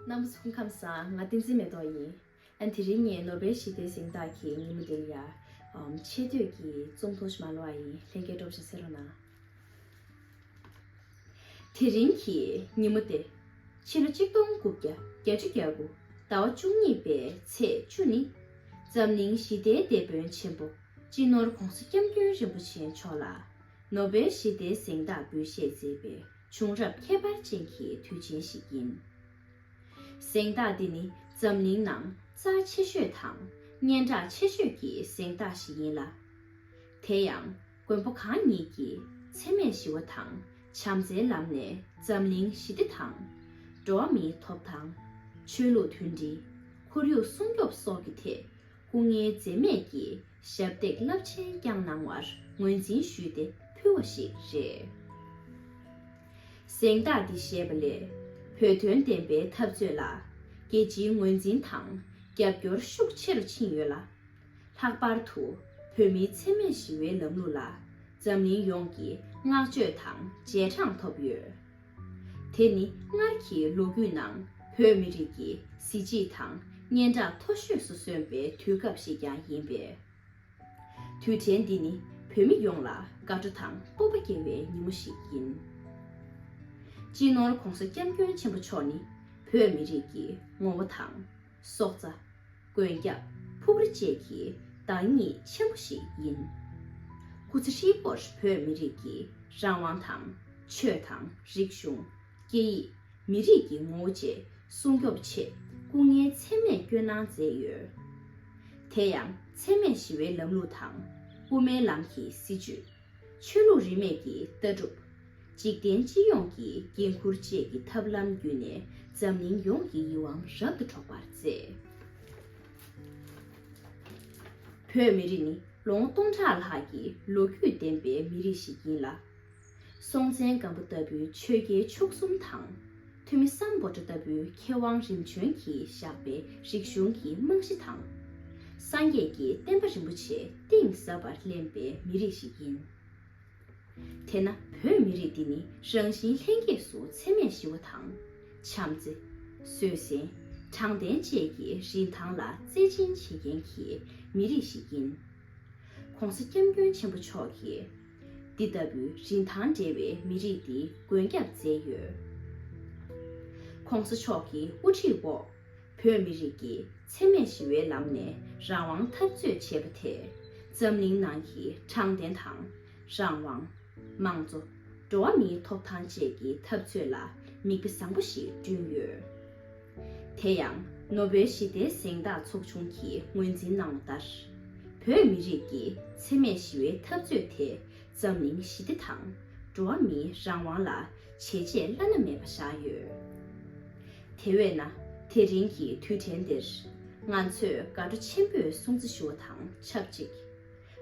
གནམ་གཟུགས་ཕུང་ཁམས་སང་ང་ཏིང་འཛིན་མེ་ཏོག་ཡིན། ཨན་དེ་རིང་ངས་ནོ་བེལ་ཞི་བདེའི་གཟེངས་རྟགས་ཀྱི་ཉིན་མོ་འདིར་ཡར། ཆེ་བསྟོད་ཀྱི་རྩོམ་ཐུང་ཞིག་མ་ལོ་བ་ཡིན་ལྷན་སྐྱེས་སྒྲོག་བཞིན་བསེ་རོ་ན། དེ་རིང་གི་ཉིན་མོ་སྟེ། ཕྱི་ལོ་གཅིག་སྟོང་དགུ་བརྒྱ་གྱ་བཅུ་གྱ་དགུ་ཟླ་བ་བཅུ་གཉིས་པའི་ཚེས་བཅུ་ནི། འཛམ་གླིང་ཞི་བདེའི་དེད་དཔོན་ཆེན་པོ་སྤྱི་ནོར ྋགོང་ས ྋསྐྱབས་མགོན་རིན་པོ་ཆེ་མཆོག་ལ། ནོ་སྦེལ་ཞི་བདེའི་གཟེངས་རྟགས་འབུལ་བཞེས་མཛད་པའི་བྱུང་རབས་ཁྱད་པར་ཅན་གྱི་དུས་ཆེན་ཞིག་ཡིན། གཟེངས་རྟགས་འདི་ནི་འཛམ་གླིང་ནང་རྩ་ཆེ་ཤོས་དང་སྙན་གྲགས་ཆེ་ཤོས་ཀྱི་གཟེངས་རྟགས་ཤིག་ཡིན་ལ། དེ་ཡང་མགོན་པོ་གང་ཉིད་ཀྱིས་འཚེ་མེད་ཞི་བ་དང་བྱམས་བརྩེའི་ལམ་ནས་འཛམ་གླིང་ཞི་བདེ་དང། འགྲོ་བ་མིའི་ཐོབ་ཐང། ཆོས་ལུགས་མཐུན་སྒྲིལ། ཁོར་ཡུག་སྲུང་སྐྱོབ་སོགས་ཀྱི་ཐད་སྐུ་ངལ་འཛེམས་མེད་ཀྱིས་ཞབས་འདེགས་རླབས་ཆེན་བསྐྱངས་གནང་བར་ངོས་འཛིན་ཞུས་ཏེ་ཕུལ་བ་ཞིག་རེད། གཟེངས་རྟགས་འདི་བཞེས་པ་ལས་བོད་དོན་བདེན་པའི་འཐབ་རྩོད་ལ་རྒྱལ་སྤྱིའི་ངོས་འཛིན་དང་རྒྱབ་སྐྱོར་ཤུགས་ཆེ་རུ་ཕྱིན་ཡོད་ལ། ལྷག་པར་དུ་བོད་མིའི་འཚེ་མེད་ཞི་བའི་ལམ་ལུགས་ལ་འཛམ་གླིང་ཡོངས་ཀྱི་བསྔགས་བརྗོད་དང་རྗེས་འབྲངས་ཐོབ་ཡོད། དེ་ནི་སྔར་གྱི་ལོ་རྒྱུས་ནང་བོད་མི་རིགས་ཀྱི་གཟི་བརྗིད་དང་སྙན་གྲགས་མཐོ་ཤོས་སུ་སོན་པའི་དུས་སྐབས་ཤིག་ཀྱང་ཡིན་པས། དུས་དྲན་འདི་ནི་བོད་མི་ཡོངས་ལ་དགའ་སྤྲོ་དང་སྤོབས་པ་སྐྱེ་བའི་ཉིན་མོ་ཞིག་ཡིན། སྤྱི་ནོར ྋགོང་ས ྋསྐྱབས་མགོན་ཆེན་པོ་མཆོག་ནི་བོད་མི་རིགས་ཀྱི་ངོ་བོ་དང། སྲོག་རྩ། མགོན་སྐྱབས་ཕུབ་རི་བཅས་ཀྱི་བདག་ཉིད་ཆེན་པོ་ཞིག་ཡིན། སྐུ་ཚེ་ཧྲིལ་པོར་བོད་མི་རིགས་ཀྱི་རང་དབང་དང། ཆོས་དང་རིག་གཞུང། སྐད་ཡིག། མི་རིགས་ཀྱི་ངོ་བོ་བཅས་སྲུང་སྐྱོབ་ཆེད་སྐུ་ངལ་ཚད་མེད་སྐྱོན་གནང་མཛད་ཡོད། དེ་ཡང་འཚེ་མེད་ཞི་བའི་ལམ་ལུགས་དང་དབུ་མའི་ལམ་གྱི་སྲིད་བྱུས། ཆོས་ལུགས་རིས་མེད་ཀྱི་ལྟ་གྲུབ། འཇིག་རྟེན་སྤྱི་ཡོངས་ཀྱི་འགན་ཁུར་བཅས་ཀྱི་ཐབས་ལམ་བརྒྱུད་ནས་འཛམ་གླིང་ཡོངས་ཀྱི་ཡིད་དབང་རབ་ཏུ་འཕྲོག་པར་མཛད། བོད་མི་རིགས་ནི་ལོ་ངོ་སྟོང་ཕྲག་ལྷག་གི་ལོ་རྒྱུས་ལྡན་པའི་མི་རིགས་ཤིག་ཡིན་ལ། སྲོང་བཙན་སྒམ་པོ་ལྟ་བུའི་ཆོས་རྒྱལ་མཆོག་གསུམ་དང། ཐོན་མི་སམ་སྒོ་བྲག་ལྟ་བུའི་མཁས་དབང་རིམ་བྱོན་གྱིས་བཞག་པའི་རིག་གཞུང་གི་རྨང་གཞི་དང། སངས་རྒྱས་ཀྱི་བསྟན་པ་རིན་པོ་ཆེ་གཏིང་ཟབ་པར་བརླན་པའི་མི་རིགས་ཤིག་ཡིན། དེས་ན་བོད་མི་རིགས་འདི་ནི་རང་བཞིན་ལྷན་སྐྱེས་སུ་འཚེ་མེད་ཞི་བ་དང། བྱམས་བརྩེ། བཟོད་བསྲན། དྲང་བདེན་བཅས་ཀྱི་རིན་ཐང་ལ་བརྩེ་ཆེན་བྱེད་མཁན་གྱི་མི་རིགས་ཤིག་ཡིན། ྋགོང་ས ྋསྐྱབས་མགོན་ཆེན་པོ་མཆོག་གིས། འདི་ལྟ་བུའི་རིན་ཐང་བྲལ་བའི་མི་རིགས་འདི་མགོན་སྐྱབས་མཛད་ཡོད། ྋགོང་ས་མཆོག་གི་དབུ་ཁྲིད་འོག་བོད་མི་རིགས་ཀྱིས་འཚེ་མེད་ཞི་བའི་ལམ་ནས་རང་དབང་འཐབ་རྩོད་བྱས་པ་དེས་འཛམ་གླིང་ནང་གི་དྲང་བདེན་དང། རང་དབང། དམངས་གཙོ། འགྲོ་བ་མིའི་ཐོབ་ཐང་བཅས་ཀྱི་འཐབ་རྩོད་ལ་མིག་དཔེ་བཟང་པོ་ཞིག་བསྐྲུན་ཡོད། དེ་ཡང་ནོ་སྦེལ་ཞི་བདེའི་གཟེངས་རྟགས་ཚོགས་ཆུང་གིས་ངོས་འཛིན་གནང་བ་ལྟར། བོད་མི་རིགས་ཀྱི་འཚེ་མེད་ཞི་བའི་འཐབ་རྩོད་དེ་འཛམ་གླིང་ཞི་བདེ་དང་འགྲོ་བ་མིའི་རང་དབང་ལ་བྱས་རྗེས་བླ་ན་མེད་པ་བཞག་ཡོད། དེ་བས་ན་དེ་རིང་གི་དུས་དྲན་འདིར་ང་ཚོས་དགའ་སྤྲོ་ཆེན་པོས་སྲུང་བརྩི་ཞུ་བ་དང་ཆབས་ཅིག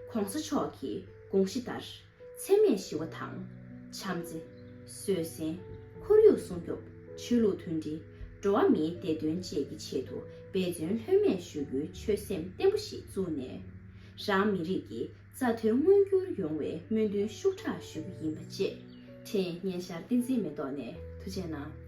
ྋགོང་ས་མཆོག་གི་དགོངས་གཞི་ལྟར། འཚེ་མེད་ཞི་བ་དང། བྱམས་བརྩེ། བཟོད་བསྲན། ཁོར་ཡུག་སྲུང་སྐྱོབ། ཆོས་ལུགས་མཐུན་སྒྲིལ། འགྲོ་བ་མིའི་བདེ་དོན་བཅས་ཀྱི་ཆེད་དུ་འབད་བརྩོན་ལྷོད་མེད་ཞུ་རྒྱུའི་ཆོད་སེམས་བརྟན་པོ་ཞིག་བཙུགས་ནས། རང་མི་རིགས་ཀྱི་རྩ་དོན་མངོན་འགྱུར་ཡོང་བའི་སྨོན་འདུན་ཤུགས་དྲག་ཞུ་རྒྱུ་ཡིན་པ་བཅས་འཕྲིན་སྙན་ཤར་བསྟན་འཛིན་མེ་ཏོག་ནས་ཐུགས་ཆེ་གནང།